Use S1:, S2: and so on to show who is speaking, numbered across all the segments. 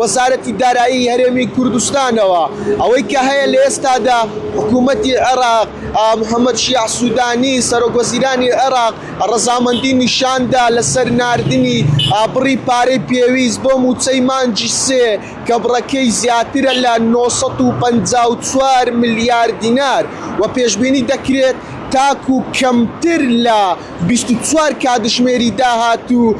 S1: وەزارەتی دارایی هەرێمی کوردستانەوە ئەوەی کە هەیە لە ئێستادا حکوومەتی عێراق محەمەد شیاع سوودانی سەرۆک وەزیرانی عێراق ڕەزامەندی نیشاندا لەسەر ناردنی بڕی پارەی پێویست بۆ مووچەی مانگی سێ کە بڕەکەی زیاترە لە نۆ سەد و پەنجا و چوار ملیار دینار و پێشبینی دەکرێت تاکوو کەمتر لە بیست و چوار کاتژمێری داهاتوو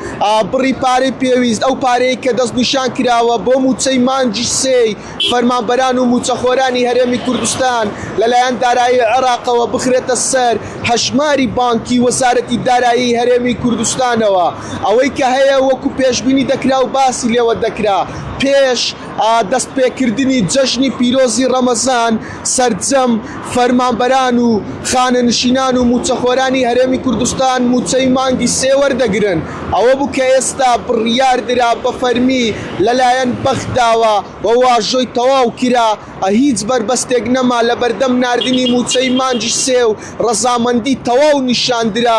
S1: بڕی پارەی پێویست، ئەو پارەیەی کە دەستنیشان کراوە بۆ مووچەی مانگی سێی فەرمانبەران و مووچەخۆرانی هەرێمی کوردستان لەلایەن دارایی عێراقەوە بخرێتە سەر هەژماری بانکی وەزارەتی دارایی هەرێمی کوردستانەوە ئەوەی کە هەیە وەکو پێشبینی دەکرا و باسی لێوە دەکرا پێش دەستپێکردنی جەژنی پیرۆزی ڕەمەزان سەرجەم فەرمانبەران و خانەنشینان و مووچەخۆرانی هەرێمی کوردستان مووچەی مانگی سێ وەردەگرن، ئەوە بوو کە ئێستا بڕیاردرا بە فەرمی لەلایەن بەغداوە و واژۆی تەواو کرا، هیچ بەربەستێک نەما لەبەردەم ناردنی مووچەی مانگی سێ و ڕەزامەندی تەواو نیشاندرا.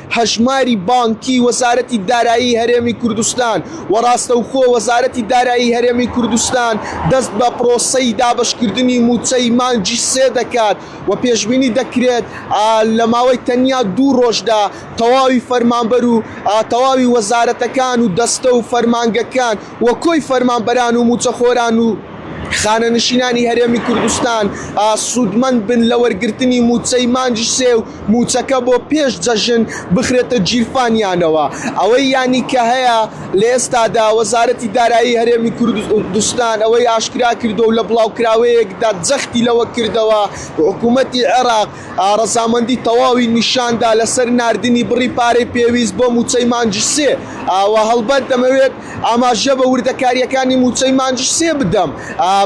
S1: هەژماری بانکی وەزارەتی دارایی هەرێمی کوردستان و ڕاستەوخۆ وەزارەتی دارایی هەرێمی کوردستان دەست بە پرۆسەی دابەشکردنی مووچەی مانگی سێ دەکات و پێشبینی دەکرێت لە ماوەی تەنیا دوو ڕۆژدا تەواوی فەرمانبەر و تەواوی وەزارەتەکان و دەستە و فەرمانگەکان و کۆی فەرمانبەران و مووچەخۆران و خانەنشینانی هەرێمی کوردستان سوودمەند بن لە وەرگرتنی مووچەی مانگی سێ و موچەکە بۆ پێش جەژن بخرێتە گیرفانیانەوە ئەوەی یانی کە هەیە لە ئێستادا وەزارەتی دارایی هەرێمی کوردستان ئەوەی ئاشکرا کردوە و لە بڵاوکراوەیەکدا جەختی لەوە کردەوە حکومەتی عێراق ڕەزامەندی تەواوی نیشان دا لەسەر ناردنی بڕی پارەی پێویست بۆ موچەی مانگی سێ وە هەڵبەت دەمەوێت ئاماژە بە وردەکارییەکانی مووچەی مانگی سێ بدەم،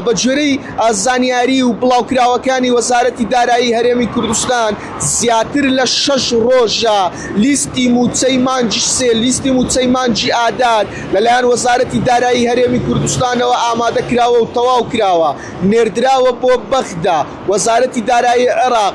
S1: بەگوێرەی زانیاری و بڵاوکراوەکانی وەزارەتی دارایی هەرێمی کوردستان زیاتر لە شەش ڕۆژە لیستی مووچەی مانگی سێ لیستی مووچەی مانگی ئادار لەلایەن وەزارەتی دارایی هەرێمی کوردستانەوە ئامادەکراوە و تەواوکراوە نێردراوە بۆ بەغدا وەزارەتی دارایی عێراق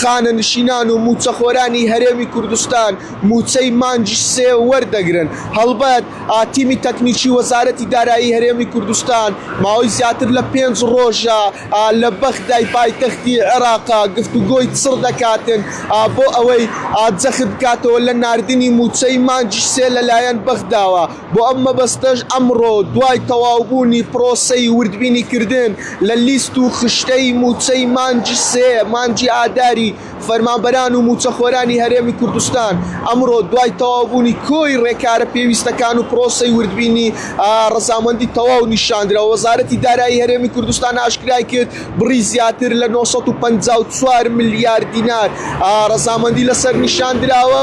S1: خانەنشینان و مووچەخۆرانی هەرێمی کوردستان مووچەی مانگی سێ وەردەگرن، هەڵبەت تیمی تەکنیکی وەزارەتی دارایی هەرێمی کوردستان ماوەی زیاتر لە پێنج رۆژە لە بەغدای پایتەختی عێراق گفتوگۆی چڕ دەکاتن بۆ ئەوەی جەخت بکاتەوە لە ناردنی مووچەی مانگی سێ لەلایەن بەغداوە. بۆ ئەم مەبەستەش ئەمڕۆ دوای تەواوبوونی پرۆسەی وردبینی کردن لە لیست و خشتەی مووچەی مانگی سێ مانگی ئاداری فەرمانبەران و مووچەخۆرانی هەرێمی کوردستان ئەمڕۆ دوای تەواوبوونی کۆی رێکارە پێویستەکان و پرۆسەی وردبینی رەزامەندی تەواو نیشاندرا وەزارەتی دارایی هەرێمی کوردستان ئاشکرای کرد بڕی زیاتر لە نۆ سەد و پەنجا و چوار ملیار دینار رەزامەندی لەسەر نیشاندراوە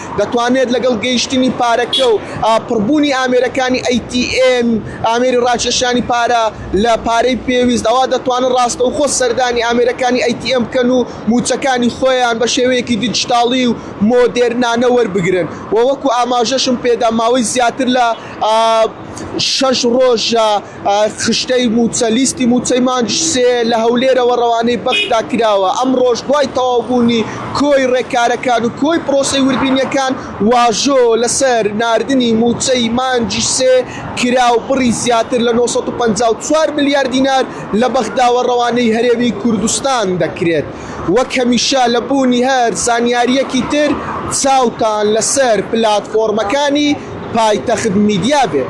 S1: دەتوانێت لەگەڵ گەیشتنی پارەکە و پڕبوونی ئامێرەکانی ATM ئامێری ڕاکێشانی پارە لە پارەی پێویست ئەوا دەتوانن ڕاستەوخۆ سەردانی ئامێرەکانی ATM بکەن و مووچەکانی خۆیان بە شێوەیەکی دیجیتاڵی و مۆدێرنانە وەربگرن و وەکو ئاماژەشم پێدا ماوەی زیاتر لە شەش ڕۆژە خشتەی مووچە، لیستی مووچەی مانگی سێ لە هەولێرەوە ڕەوانەی بەغدا کراوە، ئەمڕۆش دوای تەواوبوونی کۆی ڕێککارەکان و کۆی پرۆسەی وردبینییەکان، واژۆ لەسەر ناردنی مووچەی مانگی سێ کرا و بڕی زیاتر لە نۆ سەد و پەنجا و چوار ملیار دینار لە بەغداوە ڕەوانەی هەرێمی کوردستان دەکرێت. وەک هەمیشە لە بوونی هەر زانیارییەکی تر چاوتان لەسەر پلاتفۆرمەکانی پایتەخت میدیا بێت.